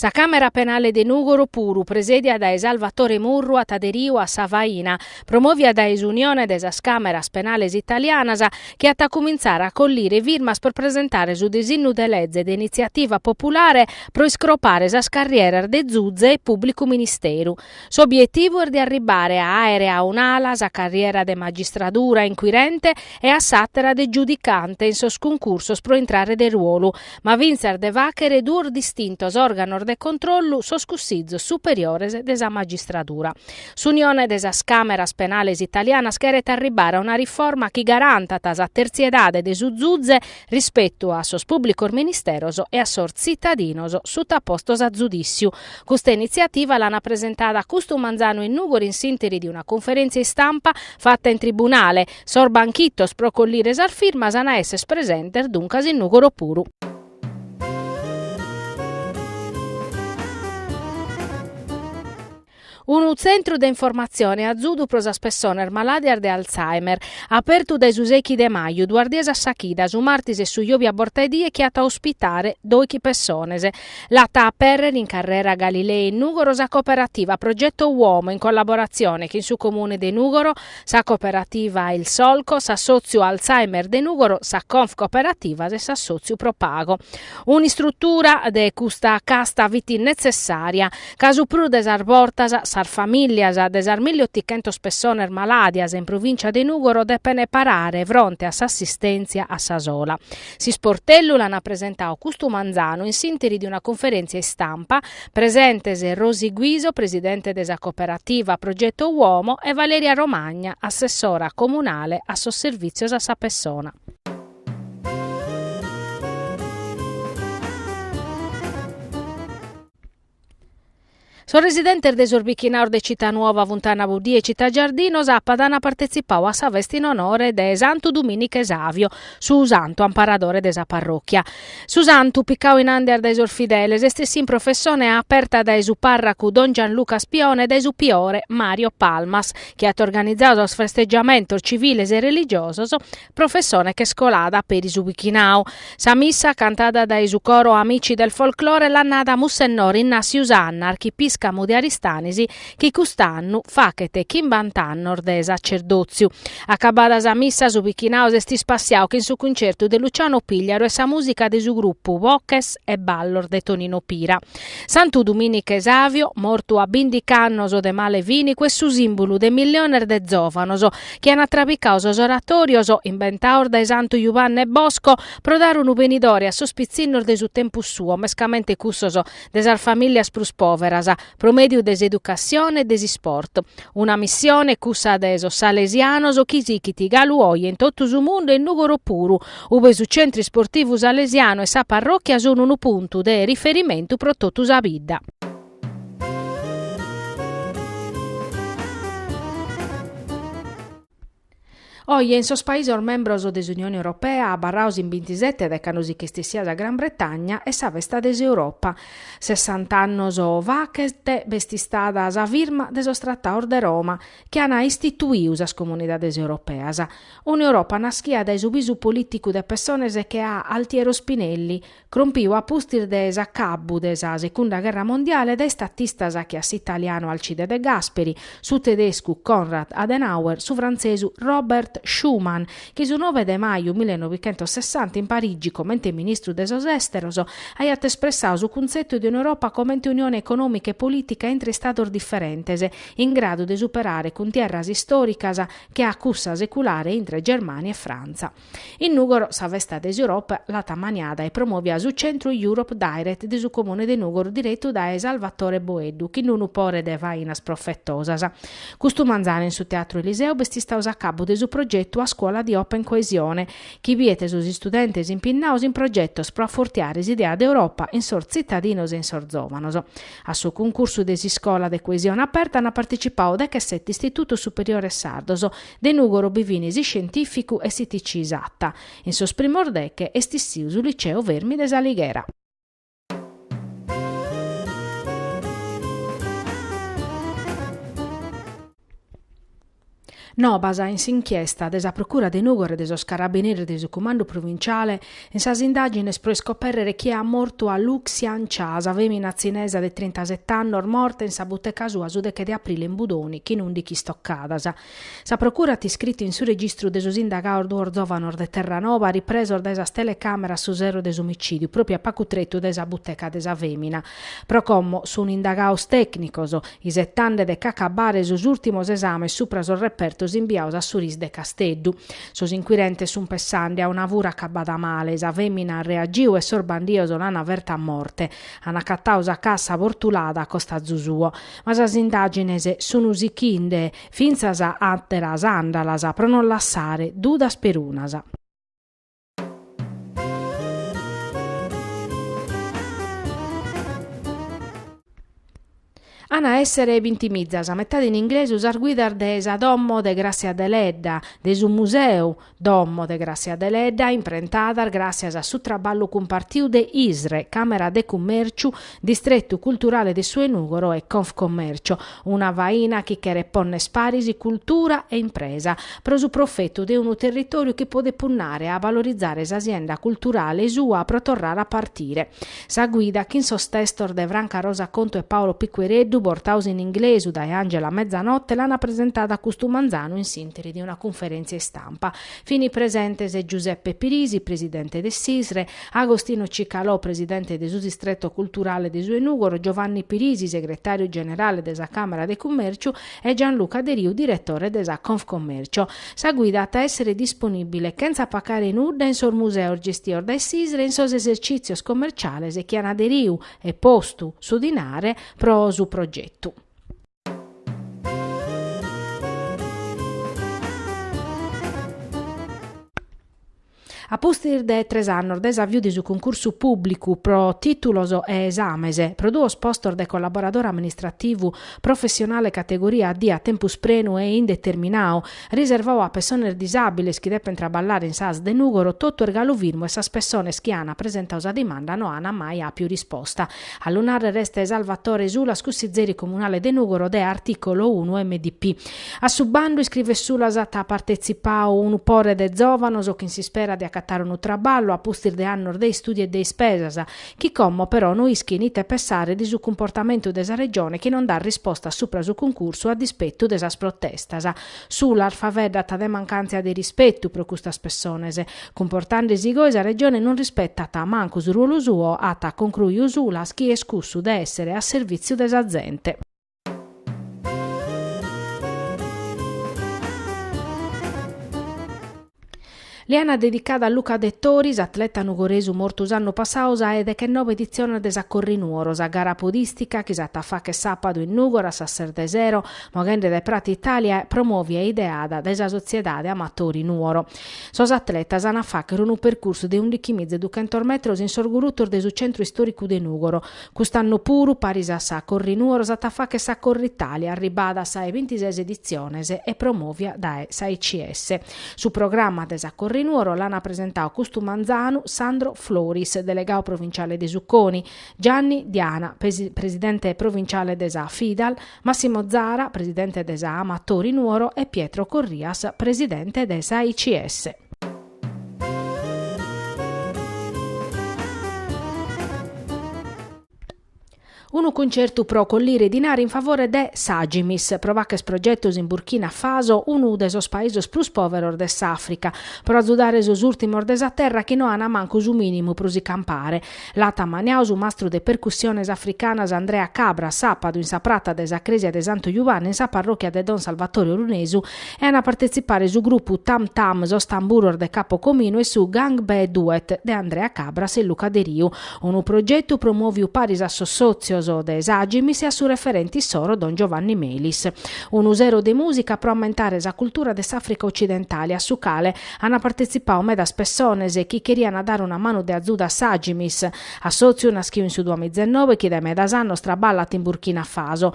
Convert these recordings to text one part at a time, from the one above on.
Sa Càmera Penale de Nùgoro puru, presèdia dae Salvatore Murru, at aderiu a sa faina, promòvia dae s'Unione de sas Càmeras Penales Italianas, chi at a cumintzare a collire firmas pro presentare su disignu de leze de initziativa populare pro iscropare sas carrieras de zuze e pùblicu ministeru. S'obietivu est de arribbare a àere a un'ala sa carriera de magistradura inquirente e a s'àtera de giudicante in sos concursos pro intrare de ruolu, ma fintzas de fàchere duos distintos òrganos de controllu, sos Cussizos superiores de sa magistradura. S'Unione de sas Càmeras Penales Italianas cheret arribbare a una riforma chi garantat sa tertziedade de su zuze rispetu a sos pùblicos ministeros e a sos tzitadinos sutapostos a zudìtziu, Custa initziativa l'ana presentada custu manzanu in Nùgoro in s'ìnteri de una conferèntzia istampa fata in tribunale. Sos banchitos pro collire sas firmas an a èsser presentes duncas in Nùgoro puru. Unu tzentru de informatzione e azudu pro sas pessones malàdias de Alzheimer, apertu dae su sechi de maju, duas dies a sa chida, su martis e su jòbia a borta 'e die, chi at a ospitare dòichi pessones. L'at a apèrrere in Carrera Galilei in Nùgoro sa cooperativa Progetto Uomo in collaboratzione chin su Comune de Nùgoro, sa cooperativa Il Solco, s'assòtziu Alzheimer de Nùgoro, sa Confcooperativas e s'assòtziu Propago. Un'istrutura de custa casta fit netzessària. ca su prus de sas bortas sas famìllias de sas milli otichentos pessones malàdias in Provìncia de Nùgoro depent parare fronte a s'assistèntzia a sa sola. S'Isportellu l'ant presentau custu manzanu in s'ìnteri de una conferèntzia istampa, presentes Rosi Guiso, presidente de sa cooperativa Progetto Uomo e Valeria Romagna, assessora comunale a sos Servìtzios a sa Pessona. Sos residentes de sos bichinaos de Città Nuova, Funtana Buddia e Città Giardino sàpadu ant partetzipau a sa festa in onore de Santu Dumìniche Savio, su santu amparadore de sa parròchia. Su santu, picau in àndias dae sos fideles, est essiu in professone aperta dae su pàrracu don Gianluca Spione e dae su piore Mario Palmas, chi at organizau sos festegiamentos civiles e religiosos professone ch'est colada peri su pichinau. Sa missa, cantada dae su coro Amici del Folklore, l'at nada Mussennori Innassiu Sanna, archipiscamu de Aristanis, chi cust'annu fachet chimbant'annos de sacerdòtziu. Acabada sa missa, su pichinau s'est ispassiau chin su cuncertu de Luciano Pigliaru e sa mùsica de su grupu Boches e Ballos de Tonino Pira. Santu Dumìniche Savio, mortu a bìndichi annos de male fìnicu, est su sìmbulu de milliones de zòvanos, chi ana trabicau sos oratorios imbentaos dae Santu Juvanne Bosco pro dare unu benidore a sos pitzinnos de su tempus suo, mescamente cussos de sas famìlias prus pòveras, pro mèdiu de s'educatzione e de s'isport. Una missione, cussa de sos salesianos, chi sichit galu oje in totu su mundu e in Nùgoro puru, ube su Centru Isportivu Salesianu e sa parròchia sun unu puntu de riferimentu pro totu sa bidda. Oje in sos paisos membros de s'Unione Europea, abarraos in bintisete dae cando si ch'est essia sa Gran Bretagna, est sa festa de s'Europa. Sessant'annos fachet b'est istada sa firma de sos Trataos de Roma chi an istituiu sas Comunidades Europeas. Un'Europa naschia dae su bisu polìticu de pessones che a Altiero Spinelli, Crompiu a pustis de s'acabbu de sa Secunda gherra mondiale dae statistas che a s'italianu Alcide De Gasperi, su tedescu Konrad Adenauer, su frantzesu Robert Schuman, chi su nove de maju millenovichentosessanta in Parigi comente ministru de sos Esteros aiat espressau su cuntzetu de un'Europa comente unione econòmica e polìtica intre Istados diferentes in gradu de superare cuntierras istòricas che a cussa seculare intre Germània e Frantza. In Nùgoro sa festa de s'Europa l'at ammaniada e promovia su Centru Europe Direct de su Comune de Nùgoro diretu dae Salvatore Boeddu chin d-unu pore de fainas profetosas. Custu manzanu in su Teatru Eliseo b'est istau s'acabu de su progetu A scuola di Open Coesione chi biet sos istudentes impinnaos in progetos pro afortiare s'idea de Europa in sos tzitadinos e in sos zòvanos. A su cuncursu de s'Iscola de Coesione Aperta an partecipau dechesete istitutos superiores sardos, De Nùgoro bi fin s'iscientìficu e s'ITC Satta. In sos primos deche est issiu su Liceo Fermi de s'Alighera. Nobas in s'inchiesta de sa Procura de Nùgoro e de sos Carabineris de su Cumandu Provinciale. In sas indàgines pro iscopèrrere chie at mortu a Lu Xian Cha, sa fèmina tzinesa de trintasete annos morta in sa buteca sua su deche de aprile in Budoni chin ùndichi istocadas, sa procura at iscritu in su registru de sos indagaos duos zòvanos de Terranoba ripresos dae sas telecàmeras su sero de s'omicìdiu pròpriu a pacu tretu dae sa buteca de sa fèmina. Pro como sun indagaos tècnicos, isetande de ch'acabare sos ùrtimos esames supra sos repertos imbiaos a su RIS de Casteddu, Sos inquirentes sun pessande a una fura acabada male, sa fèmina at reagiu e sos bandios l'ana ferta a morte. An acatau sa cassa bortulada a costazu suo. Ma sas indàgines sun sichinde fintzas àteras àndalas pro non lassare dudas perunas. An a èssere bintimiza, sa metade in inglesu sas guidas de sa Domo de Gràssia Deledda, de su Museu Domo de Gràssia Deledda, imprentadas gràssias a su traballu cumpartiu de ISRE, Càmera de Cummèrciu, Distretu Culturale de su 'e Nùgoro e Confcommercio, una faina chi cheret pònnere paris cultura e impresa, pro su profetu de unu territòriu chi podet punnare a valorizare sa sienda culturale sua pro torrare a partire. Sa guida chin sos testos de Franca Rosa Contu e Paolo Piquereddu, bortaus in inglesu dae Angela Mezzanotte, l'ana presentada custu manzanu in s'interi de una cunferèntzia istampa. Fini presentes Giuseppe Pirisi, presidente de s'ISRE, Agostino Cicalò, presidente de su Distretto Culturale de su 'e Nugoro, Giovanni Pirisi, segretàriu generale de sa Càmera de Cummèrciu, e Gianluca Deriu diretore de sa Confcommercio. Sa guida at a èssere disponìbile, chentza pacare nudda, in sos museos gestios dae s'ISRE e in sos esercìtzios commerciales chi an aderiu e postu su dinare pro su progetu. A pustis de tres annos dae s'aviu de su cuncursu pùblicu pro tìtulos e esames pro duos postos de collaboradore amministrativu professionale categoria D a tempus prenu e indeterminau, riservau a pessones disàbiles chi depent traballare in s'ASL de Nùgoro, totu est galu firmu e sas pessones chi ant presentau sa dimanda no ant mai àpiu risposta. A lu nàrrere est Salvatore Sulas, cussizeri comunale de Nùgoro de Articolo unu MDP. A su bandu iscrivet Sulas at partetzipau unu pore de zòvanos chin s'ispera de acatare unu traballu a pustis de annos de istùdiu e de ispesas, chi como però non ischin ite pensare de su cumportamentu de sa Regione chi non dat risposta supra su cuncursu a dispetu de sas protestas. Sulas faveddat de mancàntzia de rispetu pro custas pessones. Cumportande si goi sa Regione non rispetat mancu su ruolu suo, at concruiu Sulas chi est cussu de essere a servìtziu de sa zente. Li ana dedicada a Luca Dettori, s'atleta nugoresu mortu s'annu passau sa 'e dechenobe editzione de sa Corri Nuoro, sa gara podìstica chi s'at a fàcher sàpadu in Nùgoro a sas ses de sero, moghende dae Pratza Italia, promovia e ideada dae sa Sotziedade Amatori Nuoro. Sos atletas an a fàchere unu percursu de undichi miza e duchentos metros in sos gurutos de su centru istòricu de Nùgoro. Cust'annu puru, paris a sa Corri Nuoro, s'at a fàchere sa Corritalia, arribada a sa 'e bintises editziones e promòvia dae s'AICS. Su programma de sa Corri Nuoro l'an presentau custu manzanu Sandro Floris, delegau provinciale de su CONI, Gianni Diana, presidente provinciale de sa Fidal, Massimo Zara, presidente de sa Amatori Nuoro e Pietro Corrias, presidente de s'AICS. Unu cuncertu pro collire dinari in favore de s'Agimis, pro fàcher progetos in Burkina Faso, unu de sos paesos prus pòveros de s'Àfrica, pro azudare sos ùrtimos de sa terra chi no ant mancu su mìnimu pro si campare. L'at ammaniau su mastru de percussiones africanas Andrea Cabras, sàpadu, in sa prata de sa crèsia de Santu Jubanne, in sa parròchia de Don Salvatore Orunesu, e an a partetzipare su grupu Tam Tam, Sos Tamburos de Capo Cominu e su Gangbé Duet de Andrea Cabras e Luca Deriu, unu progetu promòviu paris a sos sòtzios de s'Agimis e a su referente issoro Don Giovanni Melis. Unu sero de mùsica pro ammentare sa cultura de s'Àfrica otzidentale, a su cale Ana partetzipau medas pessones chi cheriana dare una manu de azudu a s'Agimis, assòtziu naschiu in su duamizenoe chi dae medas annos traballat in Burkina Faso.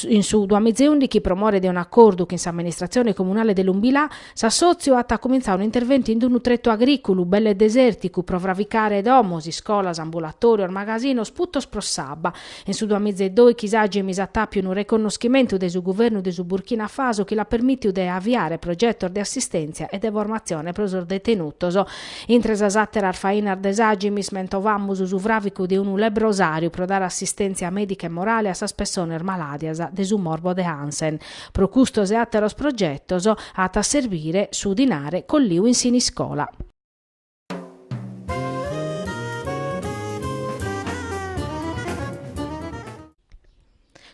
In su duamizeùndichi pro more de un'acordu chin s'amministratzione comunale de Loumbila, s'assòtziu at cumintzau un'interventu in d'unu tretu agrìculu belle desèrticu pro fravicare domos, iscolas, ambulatòrios, magasinos, putos pro s'abba, In su duamiza e dòichi s'Agimis at àpiu unu reconnoschimentu de su guvernu de su Burkina Faso chi l'at permìtiu de aviare progetos de assistèntzia e de formatzione pro sos detenutos. Intre sas àteras fainas de s'Agimis mentovamus su fràvicu de unu lebrosàriu pro dare assistèntzia mèdica e morale a sas pessones malàdias de su morbo de Hansen. Pro custos e àteros progetos at a serbire su dinare colliu in Siniscola.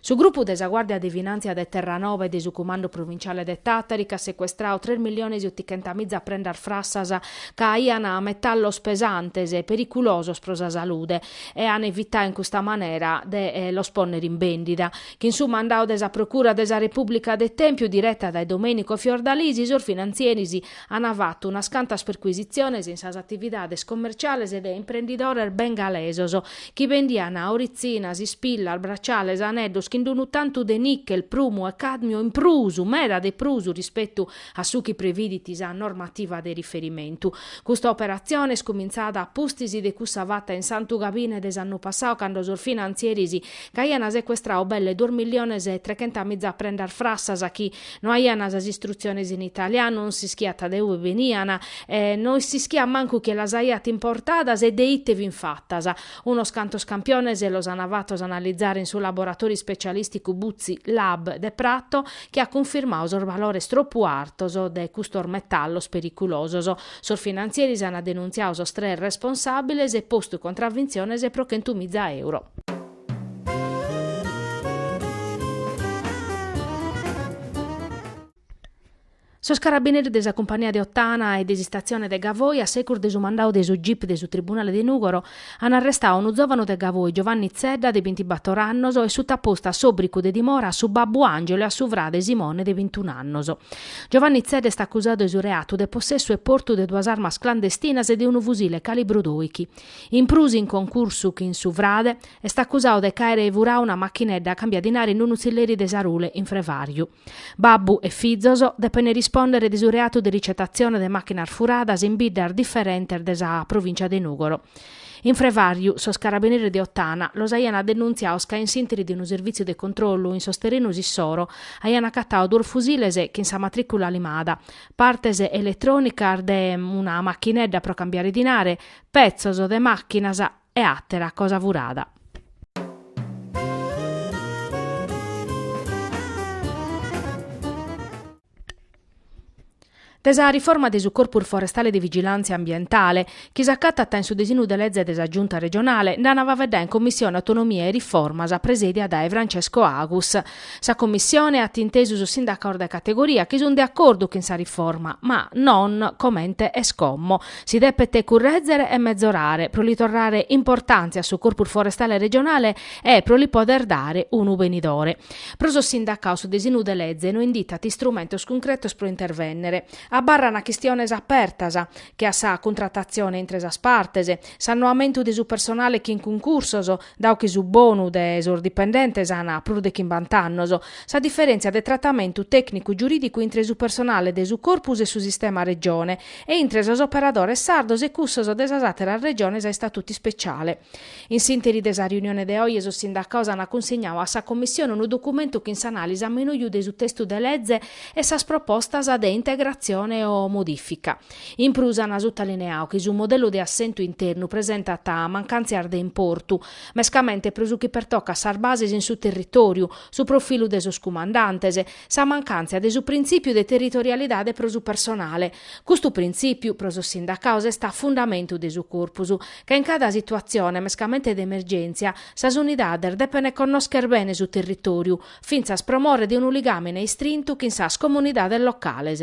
Su grupu de sa Guàrdia de Finàntzia de Terranoba e de su Cumandu Provinciale de Tàtari ch'at secuestrau tres milliones e otichentamìza prendas frassas ca aian metallos pesantes e periculosos pro sa salude e an evitau in custa manera de los pònnere in bèndida. Chin su mandau de sa Procura de sa Repùblica de Tèmpiu direta dae Domenico Fiordalisi sos finantzieris Ant fatu unas cantas percuisitziones in sas atividades commerciales de imprendidores bengalesos chi bendian oritzinas, ispillas, braciales, aneddos chin d'unu tantu de nichel, prumu e càdmiu in prus, meda de prus, rispetu a su chi previdit sa normativa de riferimentu. Custa operatzione est cumintzada a pustis de cussa fata in Santu Gabine de s'annu passau cando sos finantzieris ch'aian secuestrau belle duos milliones e trechentamiza prendas frassas chi No aiana sas istrutziones in italianu, non s'ischiat de ue beniana e no s'ischiat mancu chie las aiat importadas e de ite fin fatas. Unos cantos campiones los ana fatos analizare in su laboratori specialisticu Buzzi Lab de Prato chi at cunfirmadu sos valores tropu artos de custos metallos periculosos. Sos finantzieris ana denuntziadu sos tres responsabiles e postu contravintziones pro chentu miza euro. Sos carabineris de sa cumpania de Ottana e de s'istatzione de Gavoi, a secus de su mandadu de su gip de su tribunale de Nùgoro, an arrestadu unu zòvanu de Gavoi, Giovanni Zedda, de bintibator annos, e sutapostu a s'òbricu de dimora a su babbu Angelo e a su frade Simone de bintun'annos. Giovanni Zedda est acusadu de su reatu de possessu e portu de duas armas clandestinas e de unu fusile calibru doichi. In prus in concursu chin su frade, est acusadu de ch'aere furadu una machinedda cambia dinare in unu tzilleri de Sarule in Frevàriu. Babbu e fizos depene rispòndere de su reatu de ricetatzione de màchinas furadas in biddas diferentes de sa provìncia de Nùgoro. In Frevàriu, sos carabineris de Ottana los aiant denuntziados ca in s'ìnteri de unu servìtziu de controllu in sos terrenos issoro aiant acatadu duos fusiles chin sa matrìcula limada, partes eletrònicas de una machinedda pro cambiare dinare, petzos de màchinas e àtera cosa furada. De sa riforma de su Corpus Forestale de Vigilàntzia Ambientale, chi s'acatat in su desinu de leze de sa Giunta regionale, nd'an a faeddare in Commissione Autonomia e Riformas, presèdia dae Francesco Agus, Sa Commissione at intesu sos sindacaos de categoria chi sunt de acordu chin sa riforma, ma non comente est como. Si depet currèzere e mezorare pro li torrare importàntzia a su Corpus Forestale Regionale e pro li pòder dare unu benidore. Pro sos sindacaos su desinu de leze no inditat istrumentos cuncretos pro intervènnere. Abarrana chistiones apertas, che a sa cuntratatzione intre sas partes, s'annoamentu de su personale chin cuncursos, Dau chi su bonu de sos dipendentes an prus de chimbant'annos, sa diferèntzia de tratamentu tècnicu-giurìdicu intre su personale de su Corpus e su sistema Regione e intre sos operadores sardos e cussos de sas àteras Regiones a istatutu ispeciale. In s'ìnteri de sa riunione de oje sos sindacados an cunsignadu a sa Commissione unu documentu chin s'anàlisi a menuju de su testu de leze e sas propostas de integratzione o modìfica. In prus an sutalineau chi su modellu de assentu internu presentat mancàntzias de importu, mescamente pro su chi pertocat sas bases in su territòriu, su profilu de sos cumandantes, sa mancàntzia de su printzìpiu de territorialidade pro su personale. Custu printzìpiu, pro sos sindacados, est a fundamentu de su corpus, ca in cada situatzione, mescamente de emergèntzia, sas unidades depent connòschere bene su territòriu, fintzas pro more de unu ligàmine istrintu chin sas comunidades locales.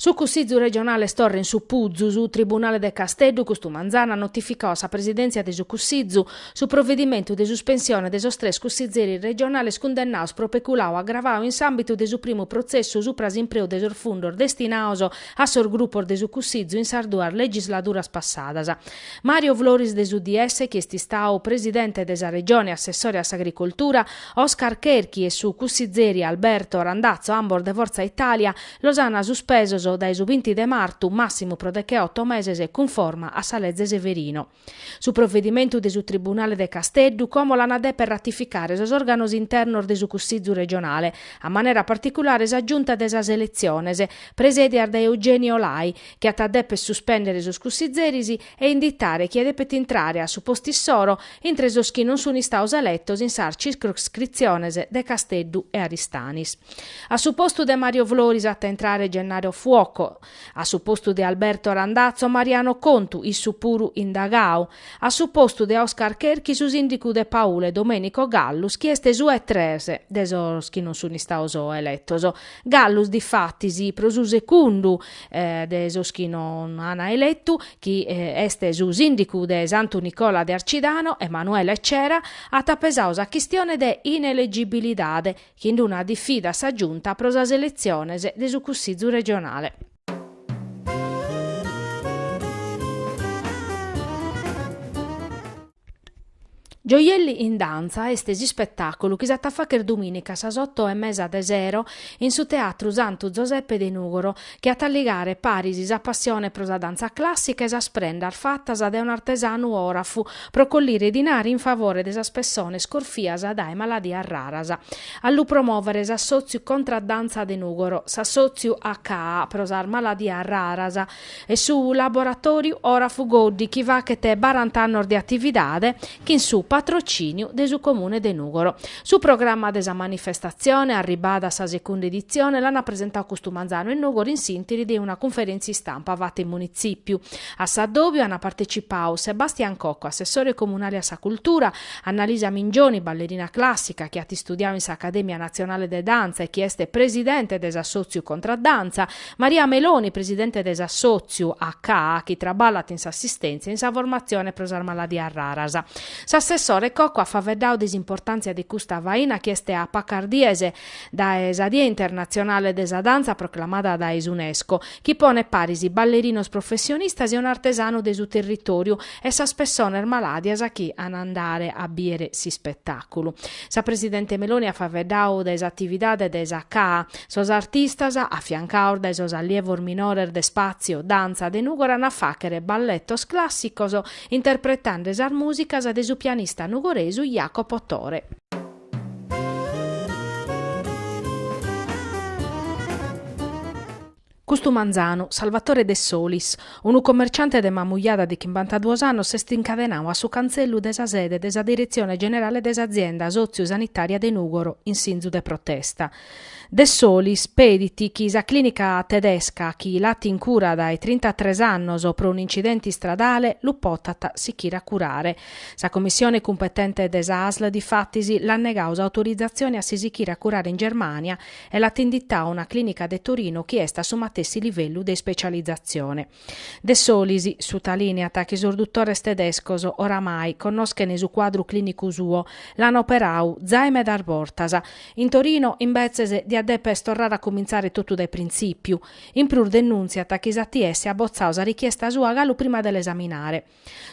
Su Cussìgiu regionale est torra in su Puzu, su Tribunale de Casteddu custu manzanu at notificadu a sa Presidèntzia de su Cussìgiu su provedimentu de suspensione de sos tres cussigeris regionales cundennaus pro peculau agravau in s'àmbitu de su primu protzessu supra s'impreu de sos fundos destinaus a sos grupos de su Cussìgiu in sas duas legisladuras passadas. Mario Floris de s'UDS chi est istau presidente de sa Regione, s'assessore a s'Agricoltura, Oscar Cherchi e su cussizeri Alberto Randazzo ambos de Forza Italia, los an suspesos dae su vinti de martu massimu pro deche oto meses cunforma a sa leze Severino. Su provedimentu de su Tribunale de Casteddu como l'an a deper ratificare sos organos internos de su Cussizu Regionale, a manera particulare sa Giunta de sas Eletziones, presedias dae Eugenio Lai, chi at a dèpere suspèndere sos cussizeris e inditare chie depet intrare a su postu issoro intre sos chi non sunt istados eletos in sas circoscritziones de Casteddu e Aristanis. A su postu de Mario Floris at a intrare Gennaro Fuoco, a su postu de Alberto Randazzo Mariano Contu, issu puru indagadu, a su postu de Oscar Cherchi su sìndicu de Paule Domenico Gallus chi est su e tres de sos chi non sunt istados eletos. Gallus difatis pro su segundu de sos chi non an eletu, chi est su sìndicu de Santu Nicola de Arcidano, Emanuele Cera, at pesadu sa chistione de inelegibilidade chin d-una difida a sa Giunta pro sas eletziones de su Cussizu regionale. Gioielli in Dantza est s'ispetàculu chi s'at a fàghere dumìnica a sas oto e mesa de sero in su Teatru Santu Zoseppe de Nùgoro, chi at a ligare paris sa passione pro sa dantza clàssica e sas prendas fatas dae un'artesanu òrafu pro collire dinari in favore de sas pessones corfias dae maladias raras. A lu promòvere s'Assòtziu Contra Dantza de Nùgoro, s'Assòtziu Acca pro sas Maladias Raras. e su laboratòriu òrafu Goddi chi faghet barant'annos de atividade chin su patrocìniu de su Comune de Nùgoro. Su programma de sa manifestatzione, arribada a sa segunda editzione, l'ant presentadu custu manzanu in Nùgoro in s'ìnteri de una cunferèntzia istampa fata in Munitzìpiu. A s'addòbiu ant partecipadu Sebastian Cocco, assessore comunale a sa cultura, Annalisa Mingioni, ballerina clàssica chi at istudiadu in s'Acadèmia natzionale de dantza e chi est presidente de s'assòtziu Contraddantza, Maria Meloni, presidente de s'assòtziu ACA chi traballat in s'assistèntzia e in sa formatzione pro sas maladias raras. S'assessore Cocco at faeddadu de s'importàntzia de custa faina chi est a pacas dies dae sa Die internatzionale de sa dantza proclamada dae s'Unesco, chi ponet paris ballerinos professionistas e un'artesanu de su territòriu e sas pessones malàdias chi an a andare a bìdere s'ispetàculu. Sa presidente Meloni at faeddadu de s'atividade de s'ACA, Sos artistas, afiancados dae sos allievos minores de Spazio Danza de Nùgoro an a fàghere balletos clàssicos, interpretende sas mùsicas de su pianista nugoresu Jacopo Tore. Custu manzanu, Salvatore Dessolis, unu commerciante de Mamujada de chimbantaduos annos s'est incadenadu a su cantzellu de sa sede de sa Diretzione Generale de s'Azienda Sotziu-Sanitària de Nùgoro in sinzu de protesta. Dessolis pedit chi sa clìnica tedesca chi l'at in cura dae trintatres annos pro un'incidente istradale lu potat sichire a curare. Sa Commissione cumpetente de sa ASL difatis l'at negadu s'autorizatzione a si sichire a curare in Germània e l'at inditau una clinica de Torinu chi est a su matessi livellu de ispecializatzione. Dessolis sutalìneat chi sos dutores tedescos, oramai, connoschent su cuadru clinicu suo, l'ant operau zai medas bortas. In Torinu, imbetzes, diat dèpere torrare a cumintzare totu dae printzìpiu. In prus denùntziat chi s'ATS at botzau sa richiesta sua galu prima de la esaminare.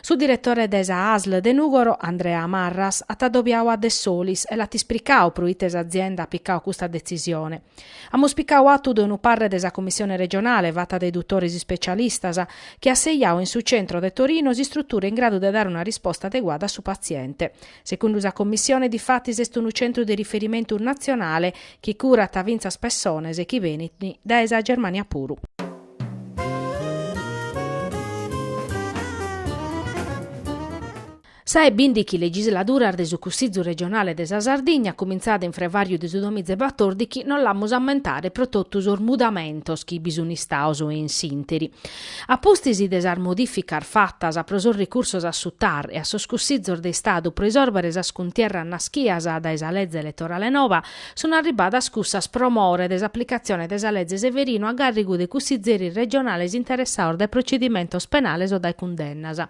Su diretore de sa ASL de Nùgoro, Andrea Marras, at adobiadu a Dessolis e l'at ispricadu pro ite s'azienda at picadu custa detzisione. Amus picadu atu de unu parre de sa Commissione regionale fata dae dutores ispecialistas chi at sejadu in su centro de Torino s'istrutura in gradu de dare una risposta adeguada a su patziente. Segundu sa Commissione difatis est unu centru de riferimentu natzionale chi curat fintzas pessones chi benint dae sa Germania puru. Sa 'e bìndighi legisladuras de su Cussizu Regionale de sa Sardigna, cumintzada in frevàriu de su duamiza e batòrdighi, no l'amus a ammentare pro totu sos mudamentos chi bi sun istados in s'interi. A pustis de sas modìficas fatas pro sos recursos a su TAR e a sos Cussizos de Istadu pro isòrbere sas cuntierras naschias dae sa leze eletorale nova, Sunt arribbadas cussas pro more de s'aplicatzione de sa Leze Severino a gàrrigu de cussizeris regionales interessados dae procedimentos penales o dae cundennas.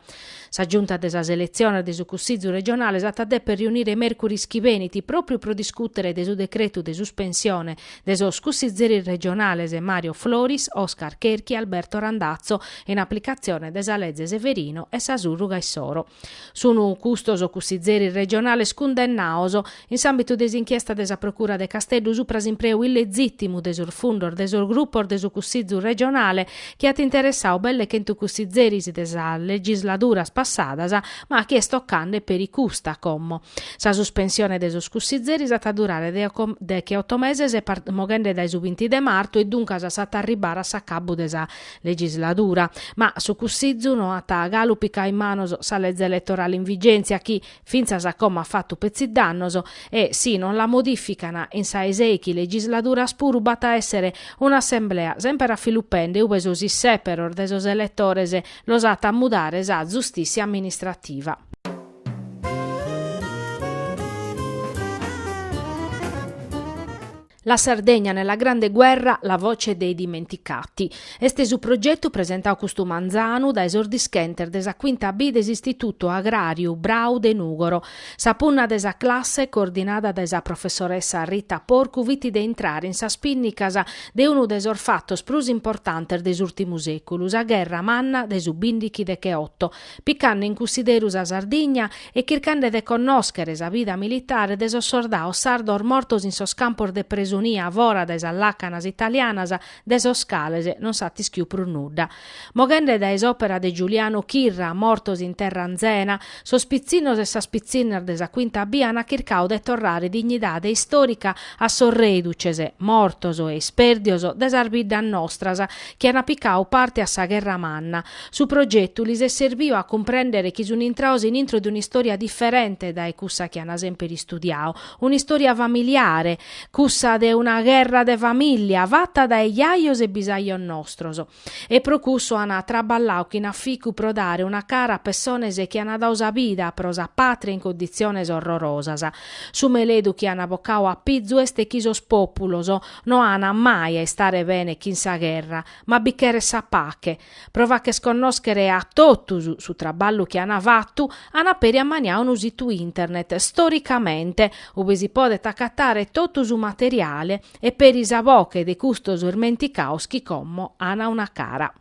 Sa Giunta de sas eletziones de su Cussizu regionale s'at a dèpere riunire mèrcuris chi benit pròpiu pro discùtere de su decretu de suspensione de sos cussizeris regionales Mario Floris, Oscar Cherchi, Alberto Randazzo, in aplicatzione de sa Leze Severino e sa sùrruga issoro. Sunu custos cussizeris regionales cundennados, in s'àmbitu de s'inchiesta de sa Procura de Casteddu supra s'impreu illegìtimu de sos fundos de sos grupos de su Cussizu regionale, chi at interessadu belle chentu cussizeris de sas legisladuras passadas, ma chi est tocande peri custa como. Sa suspensione de sos cussizeris at a durare decheoto meses, moghende dae su binti de martu, e duncas s'at a arribare a s'acabbu de sa legisladura, ma su Cussizu no at galu picau in manos sa leze eletorale in vigèntzia chi, fintzas a como at fatu petzi dannos, e si non la modifican in sa 'e sèichi legisladuras puru b'at a èssere un'assemblea semper afilupende ube sos issèperos de sos eletores los at a mudare sa zustìtzia amministrativa. La Sardegna nella grande guerra, la voce dei dimenticati. Est su progetu presentadu custu manzanu dae sos dischentes de sa Quinta B de s'Istitutu Agràriu Brau de Nùgoro. Sa punna de sa classe, coordinada dae sa professoressa Rita Porcu, fit de intrare in sas pìnnicas de unu de sos fatos prus importantes de s'ùrtimu sèculu, sa gherra manna de su bìndichi decheoto, picande in cussideru sa Sardigna e chircande de connòschere sa vida militare de sos sordados sardos mortos in sos campos de presonia fora de sas làcanas italianas de sos cales non s'at ischiu prus nudda. Moghende dae s'òpera de Giuliano Chirra Mortos in terra anzena, sos pitzinnos e sas pitzinnas de sa Quinta B ant chircadu de torrare dignidade istòrica a sos rèduces, mortos e ispèrdios de sas biddas nostras chi ant picadu parte a sa gherra manna, Su progetu lis est serbiu a cumprèndere chi sunt intrados in intro de un'istòria diferente dae cussa chi ant semper istudiadu, un'istòria familiare, cussa de una gherra de famìllia fata dae jajos e bisajos nostros. E pro cussu ant traballadu chin aficu pro dare una cara a pessones chi ant dadu sa vida pro sa pàtria in conditziones orrorosas. Su meledu chi ant bocadu a pizu est chi sos pòpulos no ant mai a istare bene chin sa gherra, ma bi cheret sa pache, Pro fàcher connòschere a totus su traballu chi ant fatu, ant peri ammaniadu unu situ internet Storicamente, ube si podet acatare totu su materiale e peri sa boche de custos irmenticados chi como ana una cara.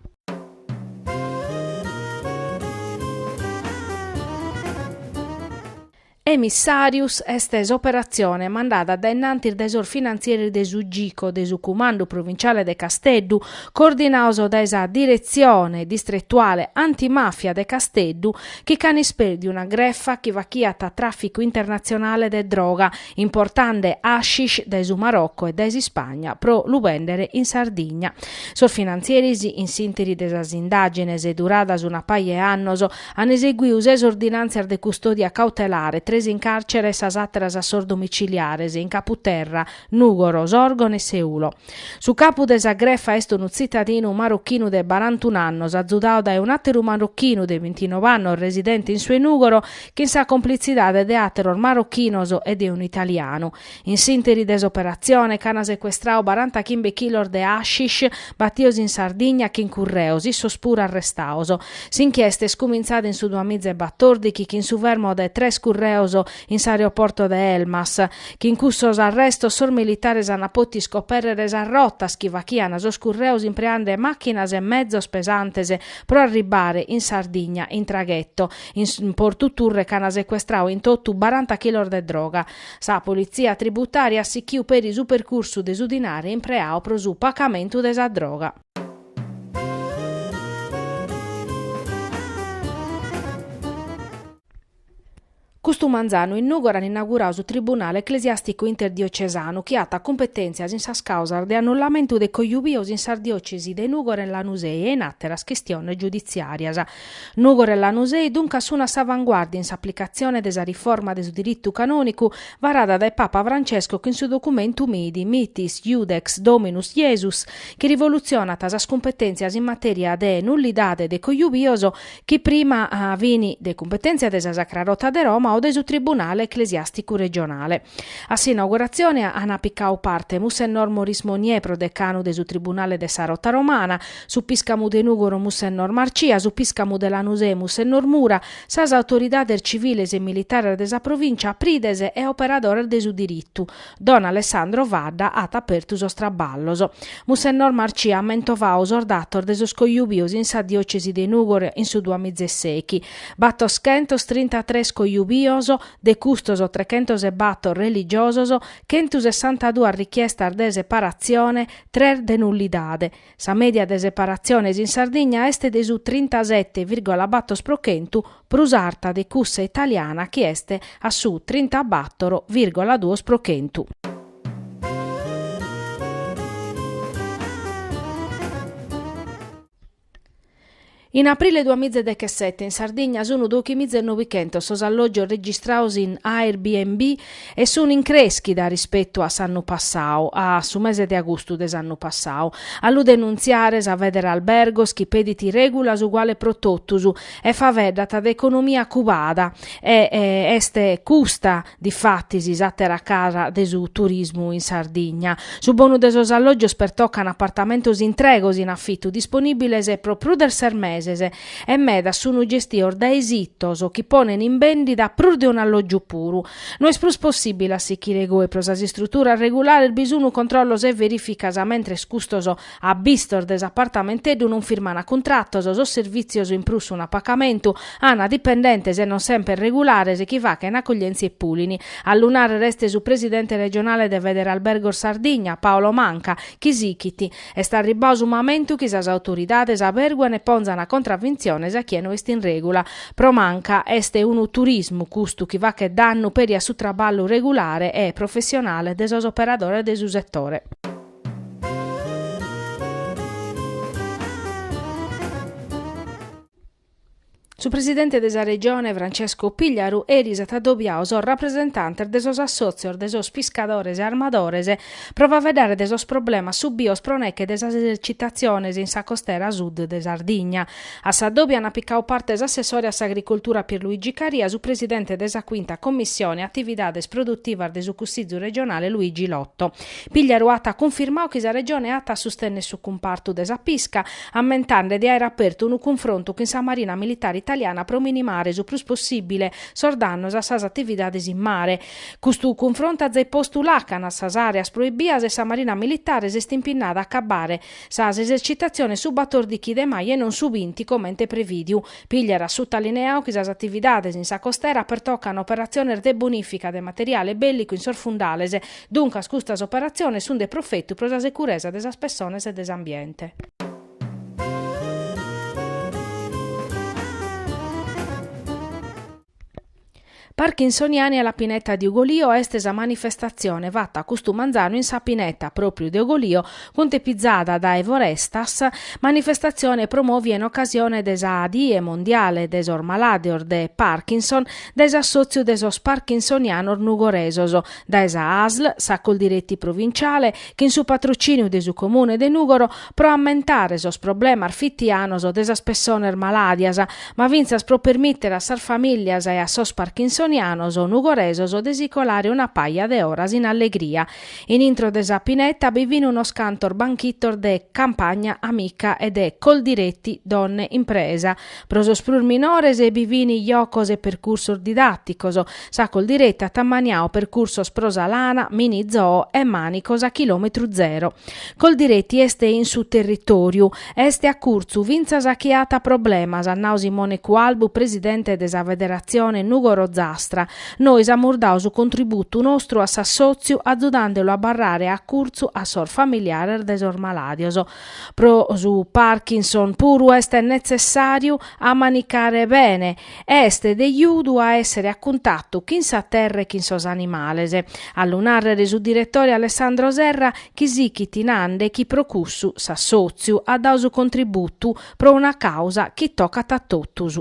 Emissàrius est s'operatzione mandada dae innantis dae sos finantzieris de su Gico de su Cumandu Provinciale de Casteddu, coordinaos dae sa Diretzione Distretuale Antimàfia de Casteddu, chi ch'an ispèrdiu una grefa chi fachiat tràficu internatzionale de droga, importande hashish dae su Marocco e dae s'Ispagna pro lu bèndere in Sardigna. Sos finantzieris, in s'ìnteri de sas indàgines duradas una paja 'e annos, An eseguiu ses ordinàntzias de custòdia cautelare, tres in càrtzere e sas àteras a sos domiciliares, in Capu Terra, Nùgoro, Sòrgono e Seulo. Su capu de sa grefa est unu tzitadinu marrochinu de barantunu annos, azudau dae un'àteru marrochinu de bintinove annos residente in su 'e Nùgoro, chin sa complitzidade de àteros marrochinos e de unu italianu. In s'interi de s'operatzione ch'an secuestradu baranta chimbe chilos de hashish batios in Sardigna chin curreos, issos puru arrestaos. S'inchiesta est cumintzada in su duamizaebatòrdichi chin su fermo de tres curreos in s'aeroporto de Elmas. Chin cussos arrestos sos militares ant pòtiu iscopèrrere sas rotas chi fachiant sos curreos impreande màchinas e mezos pesantes pro arribbare in Sardigna in tragheto. In Portu Turre ch'an secuestrau in totu baranta chilos de droga. Sa politzia tributària at sichiu peri su percursu de su dinare impreau pro su pacamentu de sa droga. Custu manzanu in Nùgoro an inaugurau su Tribunale Eclesiàsticu Interdiocesanu chi at cumpetèntzias in sas càusas de annullamentu de cojubios in sas diòcesi de Nùgoro e Lanusei e in àteras chistiones giuditziàrias. Nùgoro e Lanusei duncas sun a s'avanguàrdia in s'aplicatzione de sa riforma de su diritu canònicu varada dae Papa Francesco chin su documentu Mit, Mitis Iudex Dominus Iesus, chi rivolutzionat sas cumpetèntzias in matèria de nullidade de cojubios chi prima fin de cumpetèntzia de sa Sacra Rota de Roma o de su Tribunale eclesiàsticu regionale. A s'inauguratzione ant picau parte Mussennor Maurice Monnier, prodecanu de su Tribunale de sa Rota Romana, su piscamu de Nùgoro Mussennor Marcia, su piscamu de Lanusei Mussennor Mura, sas autoridades civiles e militares de sa provìncia, prides e operadores de su diritu. Don Alessandro Fadda at apertu sos traballos. Mussennor Marcia at mentovau sos datos de sos cojubios in sa diòcesi de Nùgoro in su duamizaesèichi, battoschentos trintatres cojubios, de custos trechentos e battor religiosos, chentusessantaduas richiestas de separatzione, tres de nullidade. Sa mèdia de separatziones in Sardigna est de su trintasete vìrgola bator pro chentu, prus arta de cussa italiana chi est a su trintabator vìrgola duos pro chentu. In aprile duamiza e dechesete in Sardigna sunu dóichi miza e nobichentos sos alloggios registrados in Airbnb e sunu in creschida rispettu a s'annu passadu, a su mese de agustu de s'annu passadu. A lu denuntziare sa Federalbergos chi pedit règulas uguales pro totus e faeddat de economia cubada e est custa Difatis s'àtera cara de su turismu in Sardigna. Su bonu de sos allògios pertocan apartamentos intregos in afitu disponìbiles pro prus de ses meses e medas sunt gestidos dae sitos chi ponent in bèndida prus de un'allògiu puru. No est prus possìbile a sichire goi pro sas istruturas regulares bi sunt controllos e verìficas mentres custos abbistos de s'apartamenteddu non firmana cuntratos sos servìtzios in prus sunt a pacamentu, ana dipendentes e non semper regulares chi fachena accoglièntzia e pulini. A lu nàrrere est su presidente regionale de Federalbergos Sardigna, Paolo Manca, chi sichit, Est arribbadu su mamentu chi sas autoridades abèrguan e pònzana contravintziones a chie no est in règula. Pro Manca est unu turismu custu chi faghet dannu peri a su traballu regulare e professionale de sos operadores de su setore. Su presidente de sa Regione Francesco Pigliaru eris at adobiadu sos rapresentantes de sos assòtzios de sos piscadores e armadores pro faeddare de sos problemas subidos pro neche de sas esercitatziones in sa costera sud de Sardigna. A s'adòbiu ant picadu parte s'assessore a s'agricultura Pierluigi Caria, su presidente de sa Quinta Commissione Atividades Produtivas de su Cussìgiu Regionale Luigi Lotto. Pigliaru at cunfirmau chi sa Regione at a sustennere su cumpartu de sa pisca, ammentende de aere apertu unu cunfrontu chin sa Marina Militare Italiana pro minimare su prus possibile sos dannos a sas atividades in mare. Custu cunfrontu at zai postu lacanas a sas areas proibias e sa Marina Militare s'est impinnada a acabare sas esercitatziones su batordichi de maju e non su binti comente previdiu. Pigliaru at sutalineau chi sas atividades in sa costera pertocan operatziones de bonifica de materiale bellicu in sos fundales, Duncas custas operatziones sunt de profetu pro sa securesa de sas pessones e de s'ambiente. Parkinsoniani alla Pineta di Ugolio est sa manifestatzione fata custu manzanu in sa Pineta, pròpriu de Ugolio, cuntepizada dae Forestas, manifestatzione promòvia in ocasione de sa Die mondiale de sos malàdeos de Parkinson dae s'assòtziu de sos parkinsonianos nugoresos, dae sa ASL, sa Coldiretti Provinciale, chin su patrocìniu de su Comune de Nùgoro, pro ammentare sos problemas fitianos de sas pessones malàdias, ma fintzas pro permìtere a sas famìlias e a sos parkinsonianos nugoresos de si colare una paja de oras in allegria. In intro de sa pineta bi fin unos cantos banchitos de Campagna Amica e de Coldiretti Donne Impresa, Pro sos prus minores bi fin jocos e percursos didàticos. Sa Coldiretti at ammaniau percursos pro sa lana, mini zoo e mànicos a chilòmetru zero. Coldiretti est in su territòriu, est a curtzu fintzas a chie at problemas, at nau Simone Cualbu, presidente de sa Federatzione Nùgoro Ozastra. Nois amus dau su contributu nostru a s'assòtziu azudande lu a abarrare a curtzu a sos familiares de sos malàdios. Pro su Parkinson puru est netzessàriu a manicare bene, est de ajudu a èssere a cuntatu chin sa terra e chin sos animales, a lu nàrrere est su diretore Alessandro Serra chi sichit nande chi pro cussu s'assòtziu at dau su contributu pro una càusa chi tocat a totus.